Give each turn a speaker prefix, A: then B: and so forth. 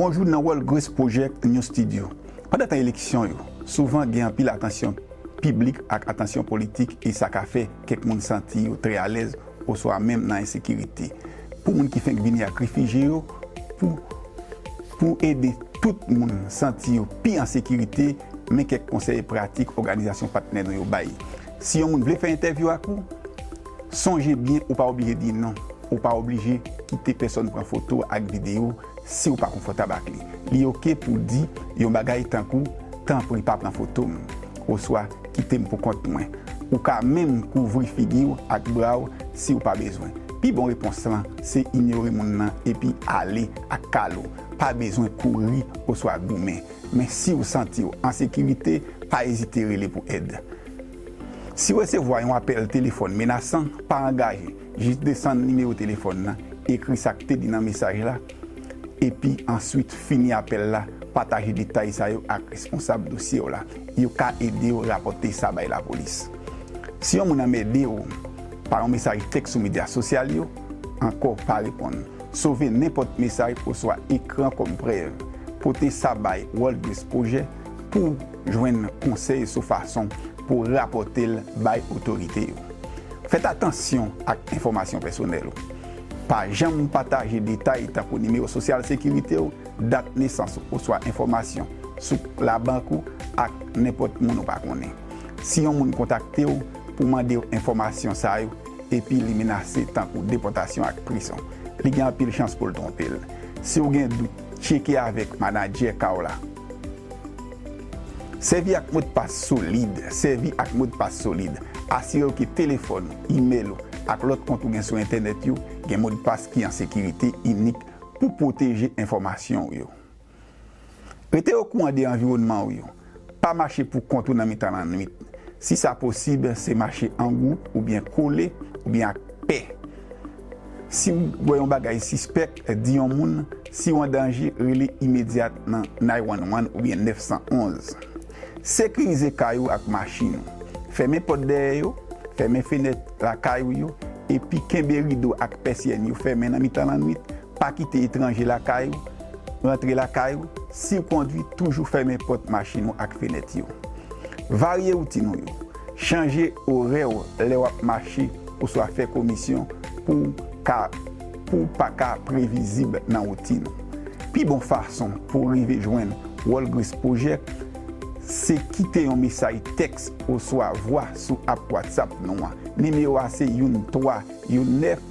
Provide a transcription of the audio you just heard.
A: Bonjou nan World Grace Project New Studio. Pandan tan eleksyon yo, souvan gen anpil atansyon piblik ak atansyon politik e sa ka fè kèk moun santi yo trè alèz oswa menm nan ensekirite. Pou moun ki fenk vini ak refije yo, pou pou ede tout moun santi yo pi an sekirite, men kèk konsèy pratik òganizasyon patnè nou yo bay. Si yon moun vle fè entèvyou ak ou, sonje byen ou pa oblije di non. Ou pa oblije kite pèsòn pran foto ak videyo si ou pa konfòtab ak li. Li oke pou w di yon bagay tankou, Tanpri pa pran foto m oswa Kite m pou kont mwen. Ou ka menm kouvri figi w ak bra w si ou pa bezwen. Pi bon repons lan se inyore moun lan epi ale ak kal ou. Pa bezwen kouri oswa goumen. Men si w santi w an sekirite, pa ezite rele pou èd. Si w resevwa yon apèl telefòn menasan, pa angaje, jis desann nimewo telefòn nan, ekri sa k te di nan mesaj la, epi answit fini apèl la, pataje detay sa yo ak responsab dosye w la. Yo ka ede w rapòte sa bay lapolis. Si yon moun anmède w pa yon mesaj tèks sou medya sosyal yo, Ankò, pa reponn. Sove nenpòt mesaj oswa ekran kòm prèv. Pote sa bay WorldBrice Project pou w jwenn konsèy sou fason pou w rapòte l bay otorite yo. Fèt atansyon ak enfòmasyon pèsonèl ou. Pa janm pataje detay tankou nimewo sosyal sekirite w, dat nesans ou oswa enfòmasyon sou labank ou ak nenpòt moun ou pa konnen. Si yon moun kontakte w pou mande w enfòmasyon sa yo, epi li menase tankou depòtasyon ak prizon, li gen anpil chans pou l twonpe l. Si w gen dout, tcheke avèk manadjè ka w la. Sèvi ak modpas solid Sèvi ak modpas solid. Asire w ke telefòn ou, imèl ou, ak lòt kont ou gen sou entènèt yo gen modpas ki an sekirite inik pou pwoteje enfòmasyon ou yo. Rete okouran de anviwònman ou yo. Pa mache pou kont ou nan mitan lannwit. Si sa posib, se mache an gwoup oubyen kole oubyen ak pè. Si ou wè yon bagay sispèk, di yon moun, si ou an danje, rele imedyat nan 911 oubyen 911. Sekirize kay ou ak machin ou. Fèmen pòt dèyè yo, fèmen fenèt lakay ou yo, epi kenbe rido ak pèsyèn yo fèmen nan mitan lannwit, Pa kite etranje lakay ou, rantre lakay ou, siw kondwi toujou fèmen pòt machin ou ak fenèt yo. Varye woutin ou yo, chanje orè w lè wap mache oswa fè komisyon pouw ka pouw pa ka previzib nan woutin ou. Pi bon fason pouw rive jwenn Walgreens Project se kite yon mesaj tèks oswa vwa sou app WhatsApp nou an. Nimewo a se youn 3 youn 9.